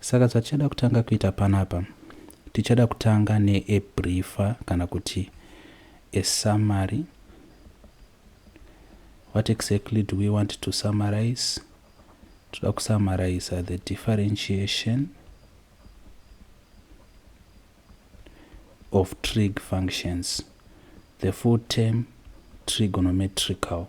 Saka zvatichada kutanga kuita panapa, tichada kutanga ne a briefer kana kuti a summary. What exactly do we want to summarize? Toda kusummariza the differentiation of trig functions, the full term trigonometrical.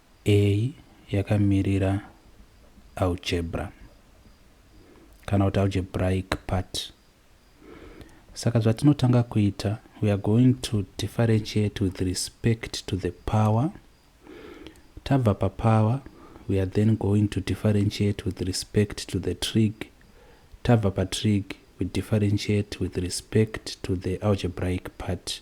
A yakamirira algebra kana kuti algebraic part. Saka zvatinotanga kuita, we are going to differentiate with respect to the power. Tabva papower, we are then going to differentiate with respect to the trig. Tabva patrig, we differentiate with respect to the algebraic part.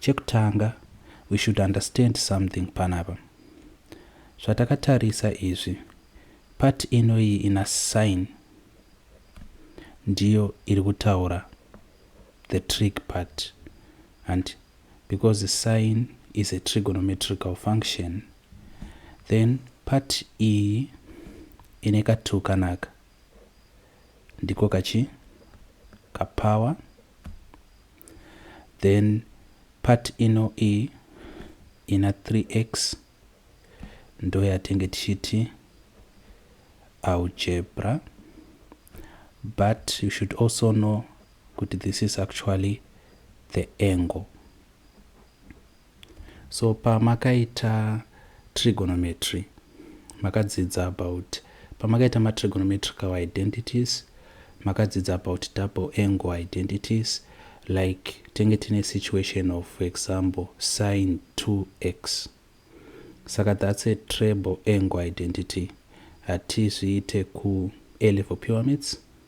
Chekutanga we should understand something panapa. Zvatakatarisa izvi part ino iyi ina sign ndiyo iri kutaura the trig part and because the sign is a trigonometrical function then part iyi ine katu kanaka ndiko kachi kapower then part ino iyi ina 3x ndoyatenge tichiti algebra but you should also know kuti this is actually the angle So pamakaita trigonometry makadzidza about pamakaita ma trigonometrical identities makadzidza about double angle identities like tenge tine situation of for example sin 2x saka that's a treble angle identity hatizviite ku a level pyramids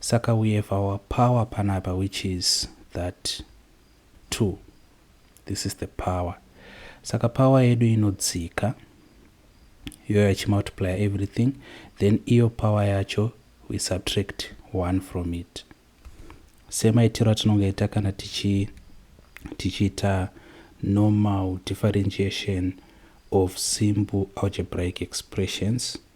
Saka we have our power panapa which is that 2. This is the power. Saka power yedu inodzika iyoyo achimultiplya everything then iyo power yacho we subtract 1 from it semaitiro atinongaita kana tichi tichiita normal differentiation of simple algebraic expressions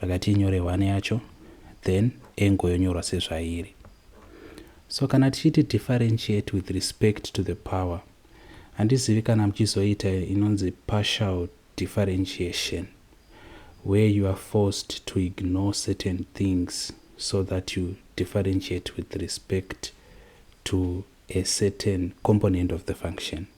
rakati inyore one yacho then angle yonyorwa sezvairi so kana tichiti differentiate with respect to the power handizivi kana muchizoita inonzi partial differentiation where you are forced to ignore certain things so that you differentiate with respect to a certain component of the function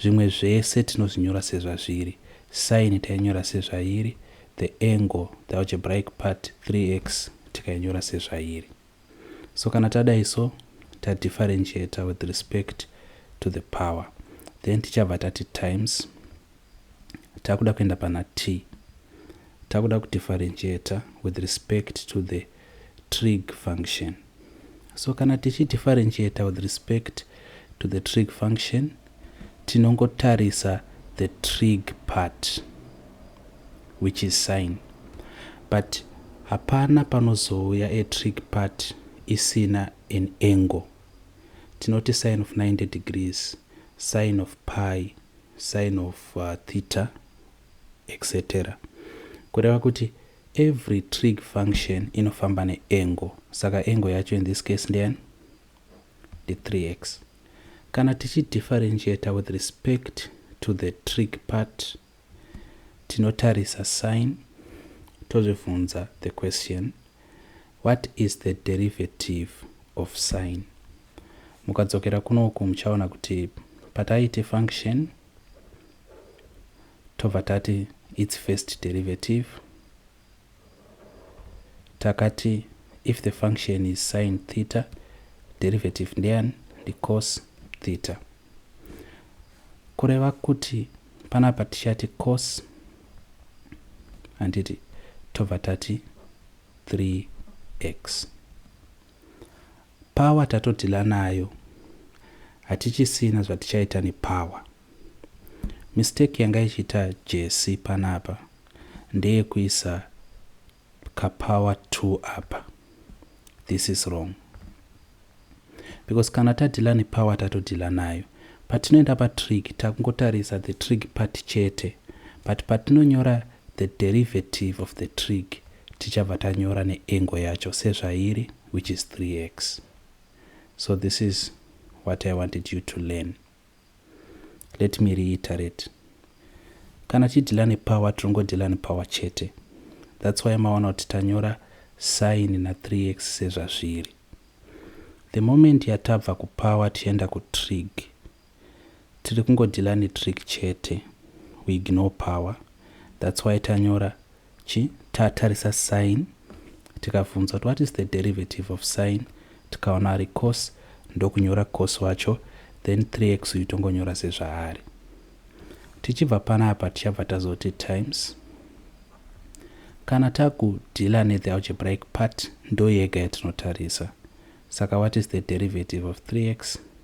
Zvimwe zvese tinozvinyora sezvazviri, sine tainyora sezvairi, the angle, the algebraic part, 3x, tikainyora sezvairi. So kana tadai so, ta differentiator with respect to the power. Then tichabva tati times, takuda kuenda pana t, takuda kudifferentiator with respect to the trig function. So kana tichi differentiate with respect to the trig function tinongotarisa the trig part which is sine but hapana panozouya a trig part isina an angle tinoti sine of 90 degrees sine of pi sine of uh, theta etc kureva kuti Every trig function inofamba ne angle saka angle yacho in this case ndeyani? Ndi 3x. Kana tichi differentiator with respect to the trig part tinotarisa sign tozvibvunza the question what is the derivative of sign. Mukadzokera kuno uku muchaona kuti pataiite function Tobva tati its first derivative. Takati if the function is sin theta, derivative ndeyan ndicos theta. Kureva kuti panapa tichati cos handiti tobva tati 3x. Power tatodhila nayo hatichisina zvatichaita nepower. Mistake yanga ichiita Jessy panapa ndeyekuisa kapower two apa. This is wrong because kana tadhila nepower tatodhila nayo. Patinoenda patrig takungotarisa the trig part chete but patinonyora the derivative of the trig tichabva tanyora neengo yacho sezvairi. which is 3x so this is what i wanted you to learn let me reiterate kana tichidhila nepower tirongodhila nepower chete that's why maona kuti tanyora sign na 3x sezvazviri the moment yatabva kupower tichienda kutrig Tiri kungo dealer ne trick chete we ignore power that's why tanyora chi tatarisa sign tikabvunzwa kuti what is the derivative of sign tikaona ari cos ndokunyora cos wacho then 3x uyu tongonyora sezvaari tichibva panapa tichabva tazoti times kana takudhila ne the algebraic part ndoyega yatinotarisa saka what is the derivative of 3x